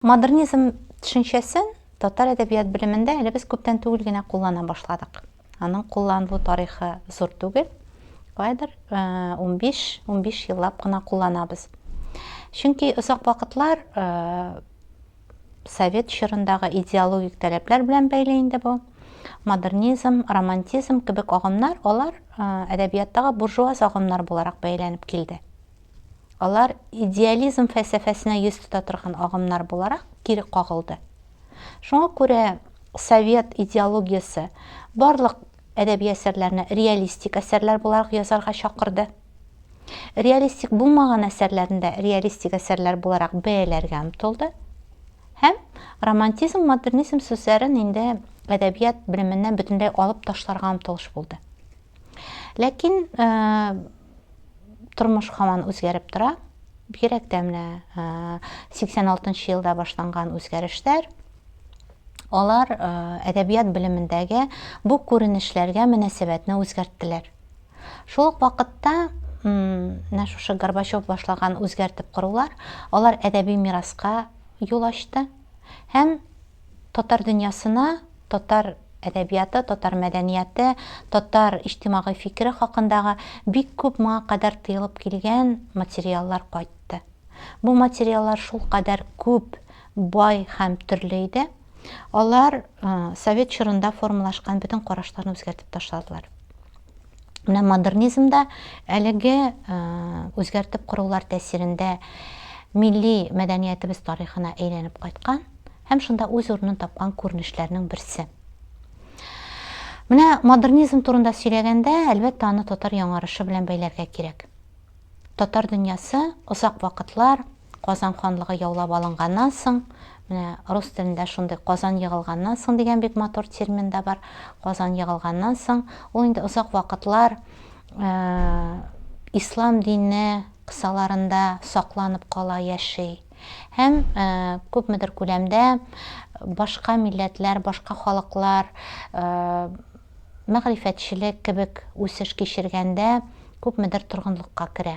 Модернизм төшенчәсен татар әдәбият белемендә әле без күптән түгел генә куллана башладык. Аның кулланылу тарихы зур түгел, кайдыр 15-15 еллап кына кулланабыз. Чөнки озак вакытлар совет чорындагы идеологик таләпләр белән бәйле инде бу. Модернизм, романтизм кебек агымнар, алар әдәбияттагы буржуаз агымнар буларак бәйләнеп килде. Алар идеализм фәлсәфәсенә йөз тота торган агымнар буларак кире кагылды. Шуңа күрә совет идеологиясе барлык әдәби әсәрләрне реалистик әсәрләр буларак язарга чакырды. Реалистик булмаган әсәрләрендә реалистик әсәрләр буларак бәяләргә омтылды һәм романтизм, модернизм сүзләрен инде әдәбият белеменнән бөтенләй алып ташларга омтылыш булды. Ләкин э, тормыш һаман үзгәреп тора. Бигрәк тә менә 86 э, елда башланган үзгәрешләр алар э, әдәбият белемендәге бу күренешләргә мөнәсәбәтне үзгәрттеләр. Шул ук вакытта менә шушы Горбачев башлаган үзгәртеп корулар, алар әдәби мираска юл ачты һәм татар дөньясына, татар әдәбияты, татар мәдәнияте, татар иҗтимагый фикере хакындагы бик күп моңа кадәр тыелып килгән материаллар кайтты. Бу материаллар шулкадәр күп, бай һәм төрле иде. Алар совет чорында формалашкан бөтен карашларны үзгәртеп ташладылар. Менә модернизмда әлеге үзгәртеп корулар тәсирендә милли мәдәниятебез тарихына әйләнеп кайткан һәм шунда үз урынын тапкан күренешләрнең берсе. Менә модернизм турында сөйләгәндә, әлбәттә, аны татар яңарышы белән бәйләргә кирәк. Татар дөньясы озак вакытлар Казан ханлыгы яулап алынганнан соң, менә рус телендә шундый Казан егылганнан соң дигән бик матур термин да бар. Казан егылганнан соң, ул инде озак вакытлар ислам дине кысаларында сакланып кала, яши. Һәм күпмедер күләмдә башка милләтләр, башка халыклар мәгърифәтчелек кебек үсеш кичергәндә күпмедер торгынлыкка керә.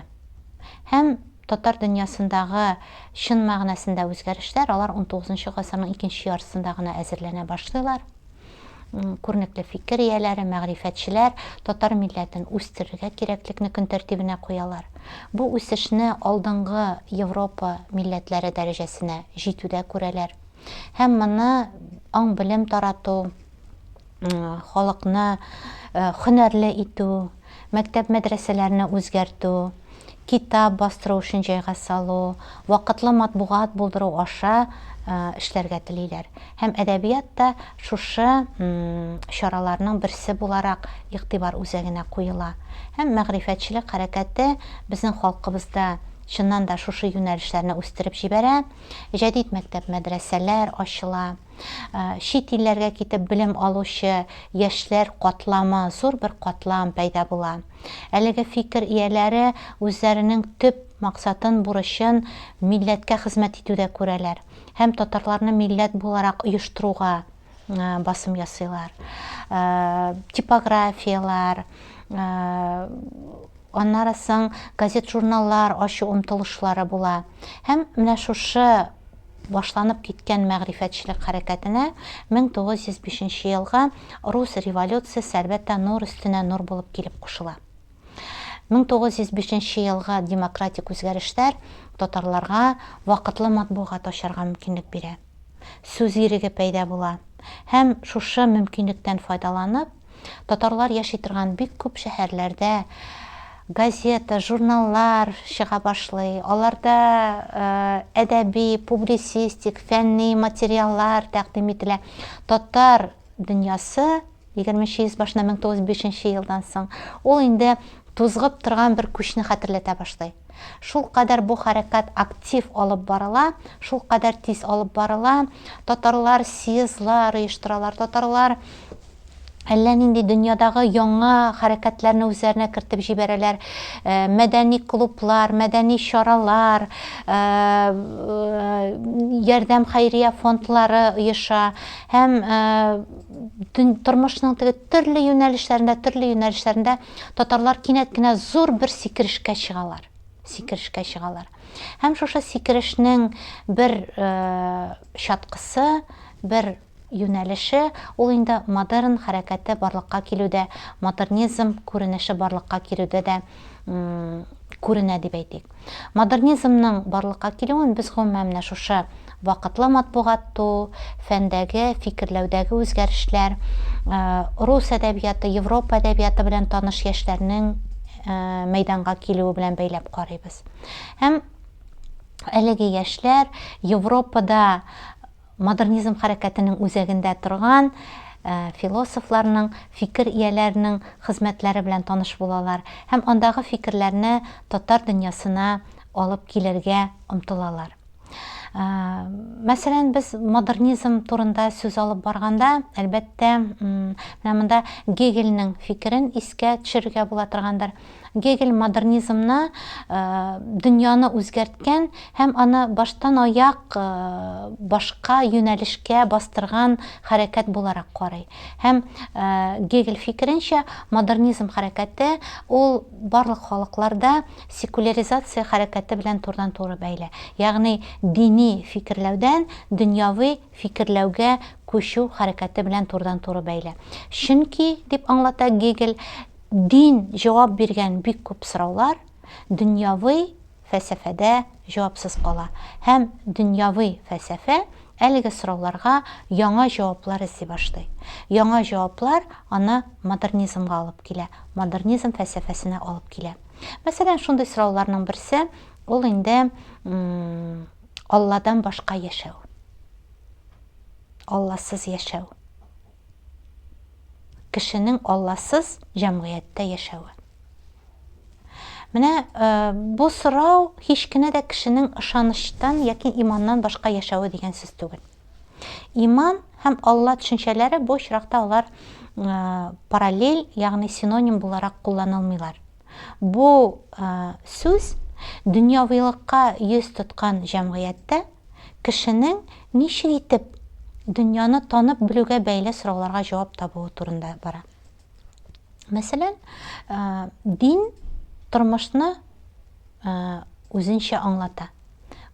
Һәм татар дөньясындагы чын мәгънәсендә үзгәрешләр алар унтугызынчы гасырның икенче яртысында гына әзерләнә башлыйлар. Күренекле фикер ияләре, мәгърифәтчеләр татар милләтен үстерергә кирәклекне көн тәртибенә куялар. Бу үсешне алдынгы Европа милләтләре дәрәҗәсенә җитүдә күрәләр. Һәм моны аң-белем тарату, халыкны хөнәрле итү, мәктәп-мәдрәсәләрне үзгәртү, китап бастыру өчен җайга салу, вакытлы матбугат булдыру аша эшләргә телиләр. Һәм әдәбият та шушы чараларның берсе буларак игътибар үзәгенә куела. Һәм мәгърифәтчелек хәрәкәте безнең халкыбызда чыннан да шушы юнәлешләрне үстереп җибәрә, җәдит мәктәп-мәдрәсәләр ачыла. Чит илләргә китеп белем алучы яшьләр катламы, зур бер катлам пәйда була. Әлеге фикер ияләре үзләренең төп максатын, бурычын милләткә хезмәт итүдә күрәләр һәм татарларны милләт буларак оештыруга басым ясыйлар. Типографияләр, Аннары соң газет-журналлар ачу омтылышлары була. Һәм менә шушы башланып киткән мәгърифәтчелек хәрәкәтенә 1905 елгы рус революциясе, әлбәттә, нур өстенә нур булып килеп кушыла. 1905 елгы демократик үзгәрешләр татарларга вакытлы матбугат ачарга мөмкинлек бирә. Сүз иреге пәйда була. Һәм шушы мөмкинлектән файдаланып, Татарлар яши торган бик күп шәһәрләрдә газета, журналлар чыга башлый. Аларда әдәби, публицистик, фәнни материаллар тәкъдим ителә. Татар дөньясы 20 йөз башына 1905 елдан соң ул инде тузгып торган бер күчне хәтерләтә башлый. Шул кадәр бу хәрәкәт актив алып барыла, шул кадәр тиз алып барыла. Татарлар съездлар оештыралар, татарлар әллә нинди дөньядагы яңа хәрәкәтләрне үзләренә кертеп җибәрәләр. Э, мәдәни клублар, мәдәни чаралар, э, э, ярдәм хәйрия фондлары оеша һәм тормышның теге төрле юнәлешләрендә, төрле юнәлешләрендә татарлар кинәт кенә зур бер сикерешкә чыгалар. Сикерешкә чыгалар. Һәм шушы сикерешнең бер чаткысы, бер юнәлеше, ул инде модерн хәрәкәте барлыкка килүдә, модернизм күренеше барлыкка килүдә дә күренә дип әйтик. Модернизмның барлыкка килүен без гомумән менә шушы вакытлы матбугат туу, фәндәге, фикерләүдәге үзгәрешләр, рус әдәбияты, Европа әдәбияты белән таныш яшьләрнең мәйданга килүе белән бәйләп карыйбыз. Һәм әлеге яшьләр Европада Модернизм хәрәкәтенең үзәгендә торган философларның, фикер ияләренең хезмәтләре белән таныш булалар һәм андагы фикерләрне татар дөньясына алып килергә омтылалар. Мәсәлән, без модернизм турында сүз алып барганда, әлбәттә, менә монда Гегельнең фикерен искә төшерергә була торгандыр. Гегель модернизмны дөньяны үзгәрткән һәм аны баштанаяк башка юнәлешкә бастырган хәрәкәт буларак карый. Һәм Гегель фикеренчә, модернизм хәрәкәте ул барлык халыкларда секуляризация хәрәкәте белән турыдан-туры бәйле, ягъни дини фикерләүдән дөньяви фикерләүгә күчү хәрәкәте белән турыдан-туры бәйле. Чөнки, дип аңлата Гегель, Дин җавап биргән бик күп сораулар дөньяви фәлсәфәдә җавапсыз кала һәм дөньяви фәлсәфә әлеге сорауларга яңа җаваплар эзли башлый. Яңа җаваплар аны модернизмга алып килә, модернизм фәлсәфәсенә алып килә. Мәсәлән, шундый сорауларның берсе, ул инде Алладан башка яшәү. Алласыз яшәү. кешенең Алласыз җәмгыятьтә яшәве? Менә э, бу сорау һич кенә дә кешенең ышанычтан яки иманнан башка яшәве дигән сүз түгел. Иман һәм Алла төшенчәләре бу очракта алар э, параллель, ягъни синоним буларак кулланылмыйлар. Бу сүз дөньявыйлыкка йөз тоткан җәмгыятьтә кешенең ничек итеп дөньяны танып белүгә бәйле сорауларга җавап табуы турында бара. Мәсәлән, дин тормышны үзенчә аңлата,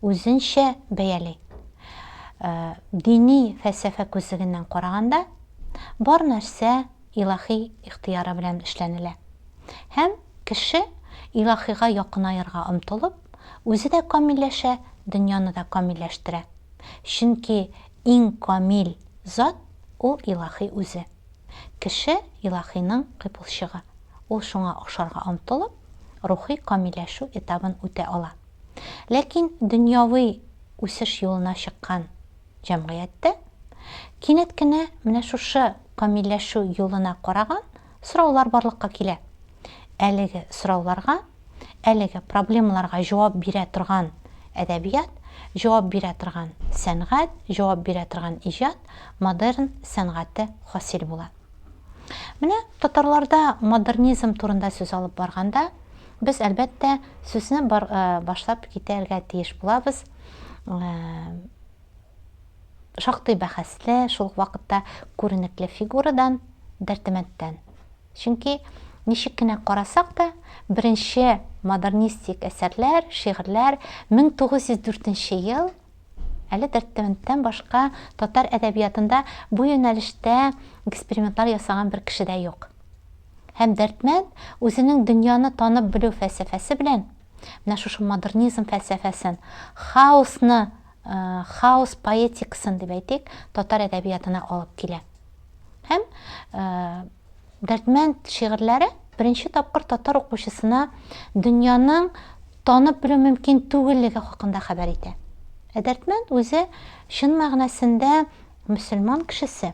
үзенчә бәяли. Дини фәлсәфә күзлегеннән караганда, бар нәрсә Илаһи ихтыяры белән эшләнелә. Һәм кеше, Илаһига якынаерга омтылып, үзе дә камилләшә, дөньяны да камилләштерә. Чөнки иң камил зат, ул Илаһи үзе. Кеше, Илаһиның кыйпылчыгы. Ул шуңа охшарга омтылып, рухи камилләшү этабын үтә ала. Ләкин дөньяви үсеш юлына чыккан. Җәмгыятьтә кинәт кенә менә шушы камилләшү юлына караган сораулар барлыкка килә. Әлеге сорауларга, әлеге проблемаларга җавап бирә торган әдәбият, җавап бирә торган сәнгать, җавап бирә торган иҗат, модерн сәнгате хасил була. Менә татарларда модернизм турында сүз алып барганда, без, әлбәттә, сүзне башлап китәргә тиеш булабыз, шактый бәхәсле, шул ук вакытта күренекле фигурадан, Дәртемәттән. Чөнки ничек кенә карасак та, беренче модернистик әсәрләр, шигырьләр 1904 ел әле Дәртемәттән башка татар әдәбиятында бу юнәлештә экспериментлар ясаган бер кеше дә юк. Һәм Дәртмәт үзенең дөньяны танып белү фәлсәфәсе белән Менә шушы модернизм фәлсәфәсен, хаосны, хаос поэтикасын дип әйтик, татар әдәбиятына алып килә. Һәм Дәрдмәнд шигырьләре беренче тапкыр татар укучысына дөньяның танып белү мөмкин түгеллеге хакында хәбәр итә. Ә Дәрдмәнд үзе чын мәгънәсендә мөселман кешесе.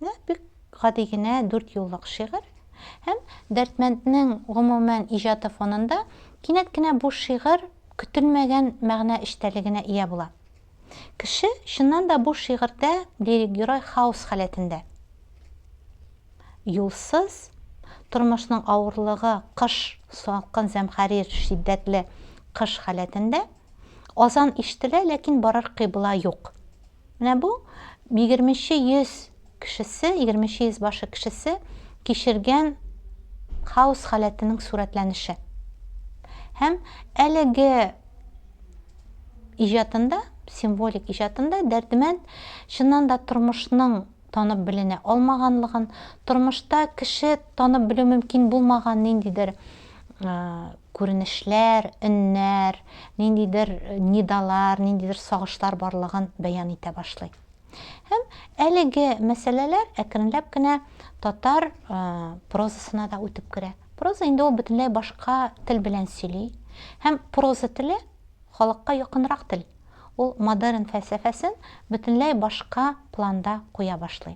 Менә бик гади генә дүрт юллык шигырь. Һәм Дәрдмәнднең гомумән иҗаты фонында кинәт кенә бу шигырь көтелмәгән мәгънә эчтәлегенә ия була. Кеше, чыннан да, бу шигырьдә лирик герой хаос халәтендә. Юлсыз, тормышның авырлыгы, кыш, салкын зәмхәрир, шиддәтле кыш халәтендә. Азан ишетелә, ләкин барыр кыйбла юк. Менә бу егерменче йөз кешесе, егерменче йөз башы кешесе кичергән хаос халәтенең сурәтләнеше. Һәм әлеге иҗатында, символик иҗатында Дәрдемәнд чыннан да тормышның танып беленә алмаганлыгын, тормышта кеше танып белү мөмкин булмаган ниндидер күренешләр, өннәр, ниндидер нидалар, ниндидер сагышлар барлыгын бәян итә башлый. Һәм әлеге мәсьәләләр әкренләп кенә татар прозасына да үтеп керә. Проза инде ул бөтенләй башка тел белән сөйли. Һәм проза теле халыкка якынрак тел. Ул модерн фәлсәфәсен бөтенләй башка планда куя башлый.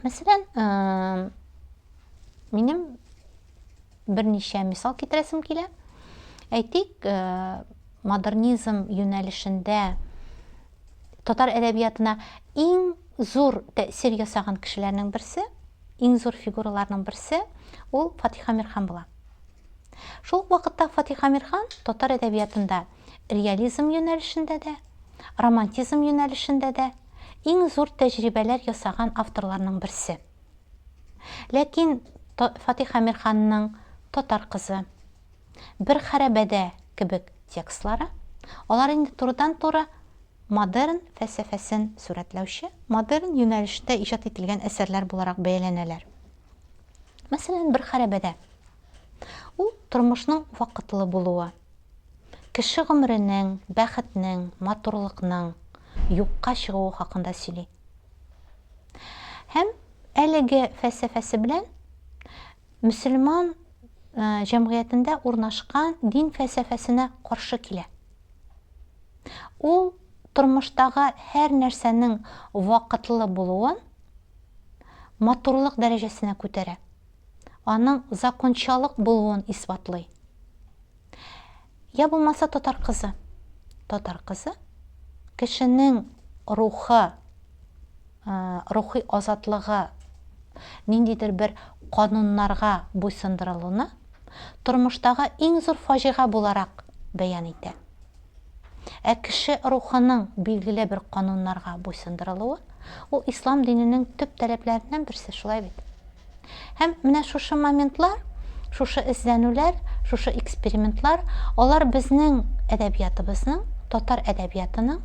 Мәсәлән, минем берничә мисал китерәсем килә. Әйтик, модернизм юнәлешендә татар әдәбиятына иң зур тәэсир ясаган кешеләрнең берсе, иң зур фигураларның берсе ул Фатиха Мирхан була. Шул вакытта Фатиха Мирхан татар әдәбиятында реализм юнәлешендә дә, романтизм юнәлешендә дә иң зур тәҗрибәләр ясаган авторларның берсе. Ләкин Фатих Әмирханның Татар кызы, Бер хәрабәдә кебек текстлары, алар инде турыдан-туры модерн фәлсәфәсен сурәтләүче, модерн юнәлештә иҗат ителгән әсәрләр буларак бәяләнәләр. Мәсәлән, Бер хәрабәдә. Ул тормышның вакытлы булуы, Кеше гомеренең, бәхетнең, матурлыкның юкка чыгуы хакында сөйли. Һәм әлеге фәлсәфәсе белән мөселман җәмгыятендә урнашкан дин фәлсәфәсенә каршы килә. Ул тормыштагы һәр нәрсәнең вакытлы булуын матурлык дәрәҗәсенә күтәрә. аның закончалык булуын исбатлый. Я булмаса татар кызы. Татар кызы кешенең рухы, рухи азатлыгы ниндидер бер кануннарга буйсындырылуны тормыштагы иң зур фаҗига буларак бәян итә. Ә кеше рухының билгеле бер кануннарга буйсындырылуы, ул ислам диненең төп таләпләреннән берсе, шулай бит? Һәм менә шушы моментлар, шушы эзләнүләр, шушы экспериментлар, алар безнең әдәбиятыбызның, татар әдәбиятының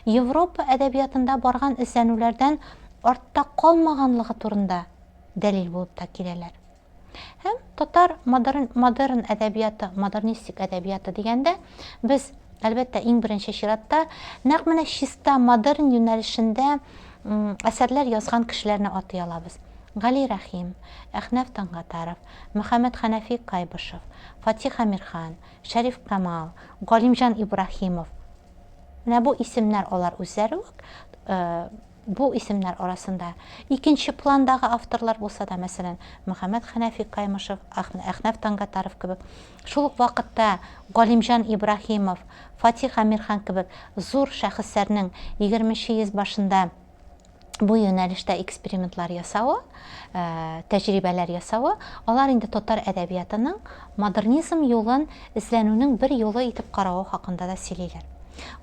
Европа әдәбиятында барган эзләнүләрдән артта калмаганлыгы турында дәлил булып та киләләр. Һәм татар модерн, модерн әдәбияты, модернистик әдәбияты дигәндә, без, әлбәттә, иң беренче чиратта, нәкъ менә чиста модерн юнәлешендә әсәрләр язган кешеләрне атый алабыз. Гали Рәхим, Әхнәф Тангатаров, Мөхәммәд Хәнәфи Кайбышев, Фатих Әмирхан, Шәриф Камал, Галимҗан Ибраһимов. Менә бу исемнәр алар үзләре үк э, Бу исемнәр арасында икенче пландагы авторлар булса да, мәсәлән, Мөхәммәт Хәнәфи Каймышев, Әхнәф Тангатаров кебек, шул ук вакытта Галимҗан Ибраһимов, Фатих Әмирхан кебек зур шәхесләрнең егерменче йөз башында бу юнәлештә экспериментлар ясавы, тәҗрибәләр ясавы, алар инде татар әдәбиятының модернизм юлын эзләнүнең бер юлы итеп каравы хакында да сөйлиләр.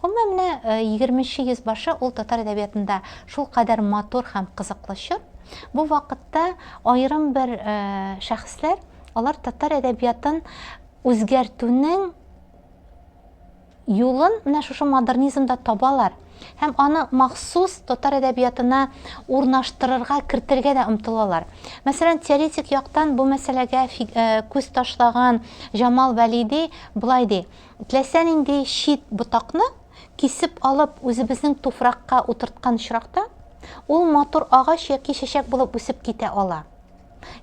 Гомумән, менә егерменче йөз башы ул татар әдәбиятында шулкадәр матур һәм кызыклы чор. Бу вакытта аерым бер шәхесләр, алар татар әдәбиятын үзгәртүнең Юлын менә шушы модернизмда табалар һәм аны махсус татар әдәбиятына урнаштырырга, кертергә дә омтылалар. Мәсәлән, теоретик яктан бу мәсьәләгә күз ташлаган Җамал Вәлиди болай ди, Теләсә нинди чит ботакны кисеп алып, үзебезнең туфракка утырткан очракта, ул матур агач яки чәчәк булып үсеп китә ала.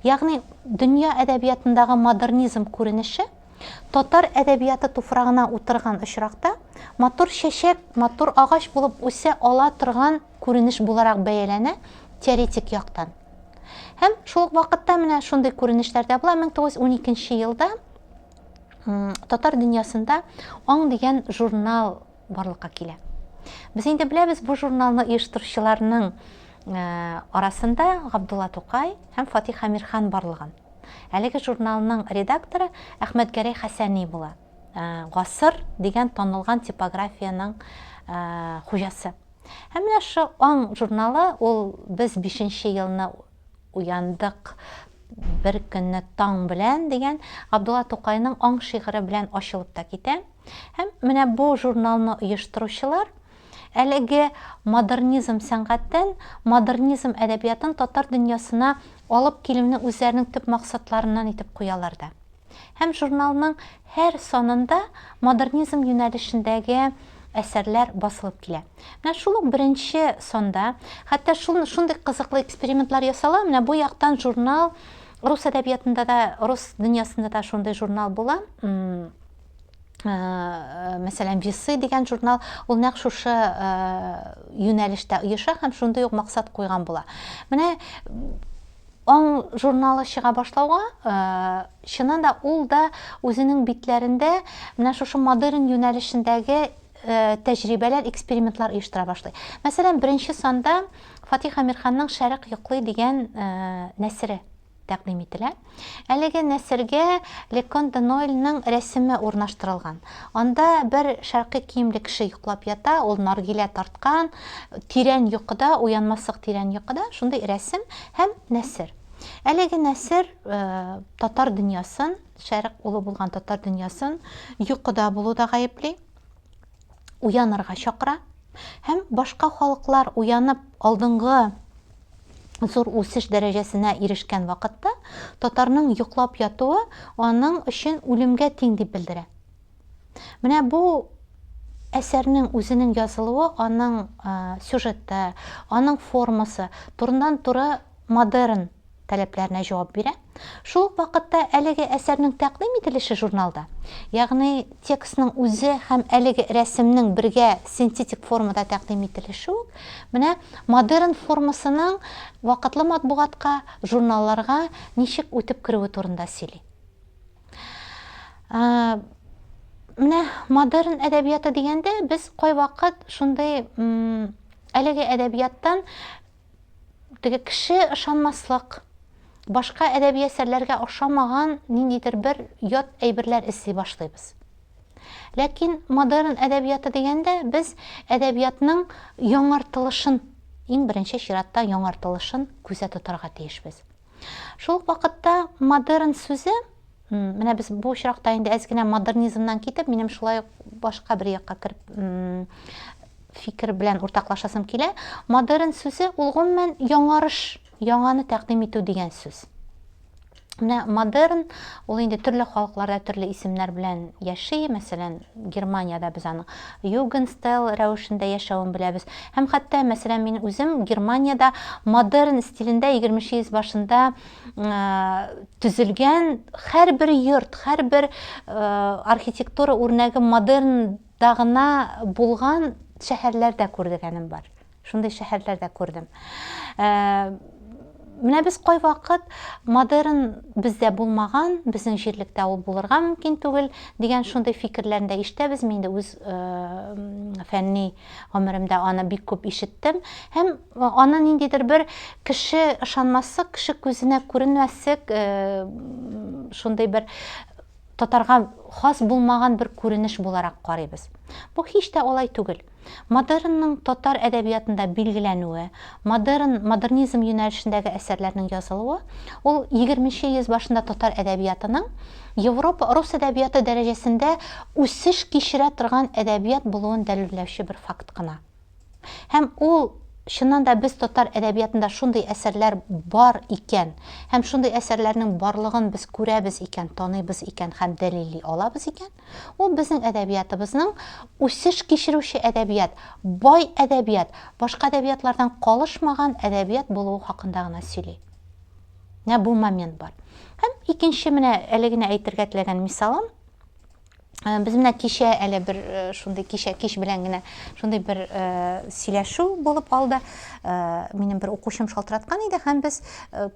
Ягъни, дөнья әдәбиятындагы модернизм күренеше Татар әдәбияты туфрагына утырган очракта матур чәчәк матур агач булып үсә ала торган күренеш буларак бәяләнә теоретик яктан. Һәм шул ук вакытта менә шундый күренешләр дә була 1912 елда татар дөньясында аң дигән журнал барлыкка килә. Без инде беләбез бу журналны оештыручыларның э, арасында Габдулла Тукай һәм Фатих Амирхан барлыгын. Әлеге журналның редакторы Әхмәтгәрәй Хәсәни була. Э, Гасыр дигән танылган типографиянең э, хуҗасы. Һәм менә шу аң журналы ул без 5 елны уяндык бер көнне таң белән дигән Габдулла Тукайның аң шигыре белән ачылып та китә. Һәм менә бу журналны оештыручылар әлеге модернизм сәнгатен, модернизм әдәбиятын татар дөньясына алып килүне үзләренең төп максатларыннан итеп куялар да. Һәм журналның һәр санында модернизм юнәлешендәге әсәрләр басылып килә. Менә шул ук беренче санда, хәтта шул шундый кызыклы экспериментлар ясала, менә бу яктан журнал рус әдәбиятында да, рус дөньясында да шундый журнал була. Э, мәсәлән весы дигән журнал ул нәкъ шушы э, юнәлештә оеша һәм шундый ук максат куйган була менә аң журналы чыга башлауга э, чыннан да ул да үзенең битләрендә менә шушы модерн юнәлешендәге тәҗрибәләр экспериментлар оештыра башлый мәсәлән беренче санда фатих әмирханның шәрык йоклый дигән нәсере тәкъдим ителә. Әлеге нәсергә Лекон де Нойльның рәсеме урнаштырылган. Анда бер шәркый киемле кеше йоклап ята, ул наргилә тарткан, тирән йокыда, уянмаслык тирән йокыда, шундый рәсем һәм нәсер. Әлеге нәсер татар дөньясын, шәрык улы булган татар дөньясын йокыда булуда гаепли. уянырга чакыра һәм башка халыклар уянып алдынгы зур үсеш дәрәҗәсенә ирешкән вакытта татарның йоклап ятуы аның өчен үлемгә тиң дип белдерә. Менә бу әсәрнең үзенең язылуы, аның сюжеты, аның формасы турыннан-туры модерн таләпләренә җавап бирә. Шул ук вакытта әлеге әсәрнең тәкъдим ителеше журналда, ягъни текстның үзе һәм әлеге рәсемнең бергә синтетик формада тәкъдим ителеше үк менә модерн формасының вакытлы матбугатка, журналларга ничек үтеп керүе турында сөйли. Менә модерн әдәбияты дигәндә без кайвакыт шундый әлеге әдәбияттан теге кеше ышанмаслык, башка әдәби әсәрләргә ошамаган ниндидер бер ят әйберләр эзли башлыйбыз. Ләкин модерн әдәбияты дигәндә без әдәбиятның яңартылышын, иң беренче чиратта яңартылышын күздә тотарга тиешбез. Шул ук вакытта модерн сүзе, менә без бу очракта инде әз генә модернизмнан китеп, минем шулай ук башка бер якка кереп фикер белән уртаклашасым килә. Модерн сүзе ул гомумән яңарыш, яңаны тәкъдим итү дигән сүз. Менә модерн ул инде төрле халыкларда төрле исемнәр белән яши, мәсәлән, Германиядә без аның Югенстайл рәвешендә яшәвен беләбез. Һәм хәтта, мәсәлән, мин үзем Германиядә модерн стилендә егерменче йөз башында төзелгән һәрбер йорт, һәрбер архитектура үрнәге модернда гына булган шәһәрләр дә күргәнем бар. Шундый шәһәрләр дә күрдем. Ә, менә без кайвакыт модерн бездә булмаган, безнең җирлектә ул булырга мөмкин түгел дигән шундый фикерләрне дә ишетәбез. Мин дә үз э, фәнни гомеремдә аны бик күп ишеттем. Һәм э, аны ниндидер бер кеше ышанмаслык, кеше күзенә күренмәслек э, шундый бер татарга хас булмаган бер күренеш буларак карыйбыз. Бу һич тә алай түгел. Модернның татар әдәбиятында билгеләнүе, модерн, модернизм юнәлешендәге әсәрләрнең язылуы, ул егерменче йөз башында татар әдәбиятының Европа, рус әдәбияты дәрәҗәсендә үсеш кичерә торган әдәбият булуын дәлилләүче бер факт кына. Һәм ул, чыннан да, без татар әдәбиятында шундый әсәрләр бар икән, һәм шундый әсәрләрнең барлыгын без күрәбез икән, таныйбыз икән һәм дәлилли алабыз икән, ул безнең әдәбиятыбызның үсеш кичерүче әдәбият, бай әдәбият, башка әдәбиятлардан калышмаган әдәбият булуы хакында гына сөйли. Менә бу момент бар. Һәм икенче менә әле генә әйтергә теләгән мисалым, Э, без менә кичә әле бер э, шундый кичә кич белән генә шундый бер э, сөйләшү булып алды минем бер укучым шалтыраткан иде һәм без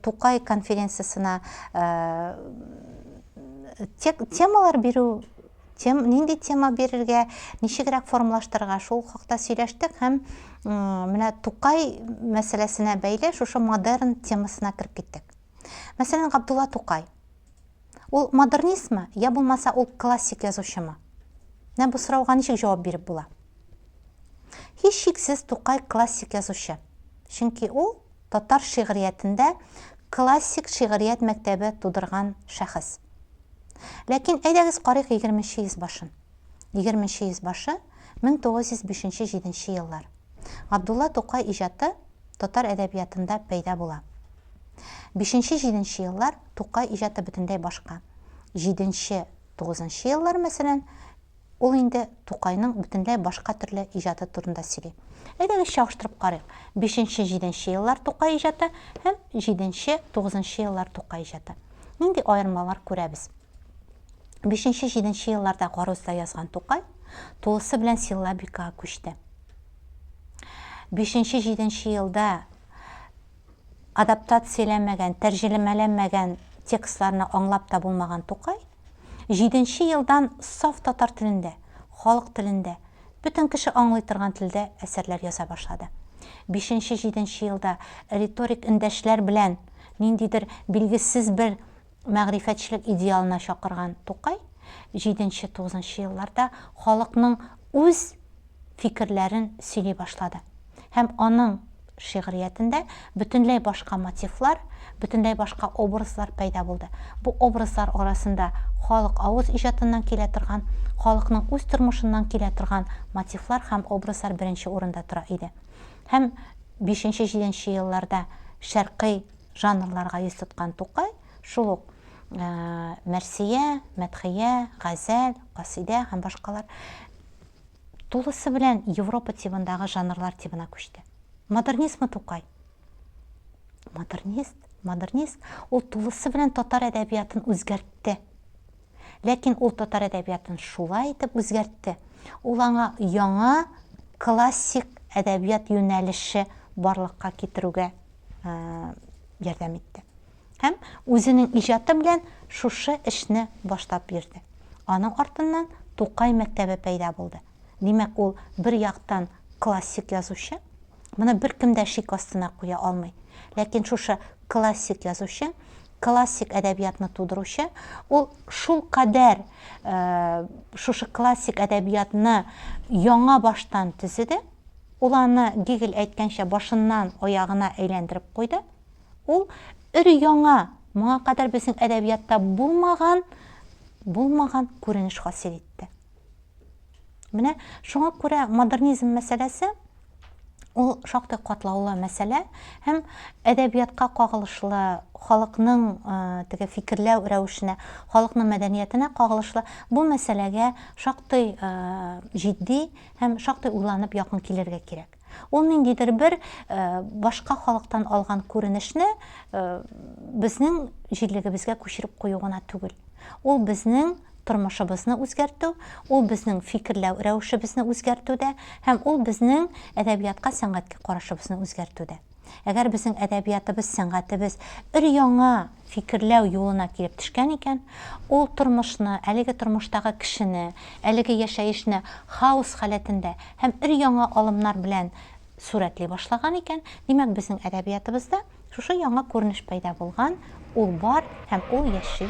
тукай конференциясенә темалар бирү тем, нинди тема бирергә ничегрәк формалаштырырга шул хакта сөйләштек һәм менә тукай мәсьәләсенә бәйле шушы модерн темасына кереп киттек мәсәлән габдулла тукай Ул модернистмы, я булмаса ул классик язучымы? Менә бу сорауга ничек җавап биреп була? Һичшиксез Тукай классик язучы. Чөнки ул татар шигъриятендә классик шигърият мәктәбе тудырган шәхес. Ләкин әйдәгез карыйк егерменче йөз башын. Егерменче йөз башы 1905-7 еллар. Габдулла Тукай иҗаты татар әдәбиятында пәйда була. Бишенче-җиденче еллар Тукай иҗаты бөтенләй башка. Җиденче, тугызынчы еллар, мәсәлән, ул инде Тукайның бөтенләй башка төрле иҗаты турында сөйли. Әйдәгез чагыштырып карыйк. Бишенче-җиденче еллар Тукай иҗаты һәм җиденче-тугызынчы еллар Тукай иҗаты. Нинди аермалар күрәбез? Бишенче-җиденче елларда Гарузда язган Тукай тулысы белән силлабикага күчте. Бишенче-җиденче елда Адаптацияләнмәгән, тәрҗелемәләнмәгән текстларны аңлап та булмаган Тукай, җиденче елдан саф татар телендә, халык телендә, бөтен кеше аңлый торган телдә әсәрләр яза башлады. Бишенче-җиденче елда риторик эндәшләр белән ниндидер билгесез бер Мәгърифәтчелек идеалына чакырган Тукай җиденче-тугызынчы елларда халыкның үз фикерләрен сөйли башлады һәм аның шигъриятендә бөтенләй башка мотивлар, бөтенләй башка образлар пәйда булды. Бу образлар арасында халык авыз иҗатыннан килә торган, халыкның үз тормышыннан килә торган мотивлар һәм образлар беренче урында тора иде. Һәм бишенче-җиденче елларда шәркый Жанрларга йөз тоткан Тукай шул ук мәрсия, мәдхия, газәл, касыйдә һәм башкалар тулысы белән Европа тибындагы жанрлар тибына күчте. Модернизмы Тукай? Модернист, модернист, ул тулысы белән татар әдәбиятын үзгәртте. Ләкин ул татар әдәбиятын шулай итеп үзгәртте. Ул аңа яңа классик әдәбият юнәлеше барлыкка китерүгә ярдәм итте. Һәм үзенең иҗаты белән шушы эшне баштап йөрде. Аның артыннан Тукай мәктәбе пәйда булды. Димәк, ул бер яктан классик язучы, моны беркем дә шик астына куя алмый. Ләкин шушы классик язучы, классик әдәбиятны тудыручы, ул шул кадәр шушы классик әдәбиятны яңа баштан төзеде, Ул аны, Гегель әйткәнчә, башыннан аягына әйләндереп куйды. Ул өр-яңа, моңа кадәр безнең әдәбиятта булмаган, булмаган күренеш хасил итте. Менә шуңа күрә модернизм мәсьәләсе ул шактый катлаулы мәсьәлә һәм әдәбиятка кагылышлы, халыкның теге фикерләү рәвешенә, халыкның мәдәниятенә кагылышлы бу мәсьәләгә шактый җитди Һәм шактый уйланып якын килергә кирәк. Ул ниндидер бер башка халыктан алган күренешне безнең җирлегебезгә күчереп кую гына түгел. Ул безнең тормышыбызны үзгәртү, ул безнең фикерләү рәвешебезне үзгәртүдә һәм ул безнең әдәбиятка, сәнгатькә карашыбызны үзгәртүдә. Әгәр безнең әдәбиятыбыз, сәнгатебез өр-яңа фикерләү юлына килеп төшкән икән, ул тормышны, әлеге тормыштагы кешене, әлеге яшәешне хаос халәтендә һәм өр-яңа алымнар белән сурәтли башлаган икән, димәк, безнең әдәбиятыбызда шушы яңа күренеш пәйда булган, ул бар һәм ул яши.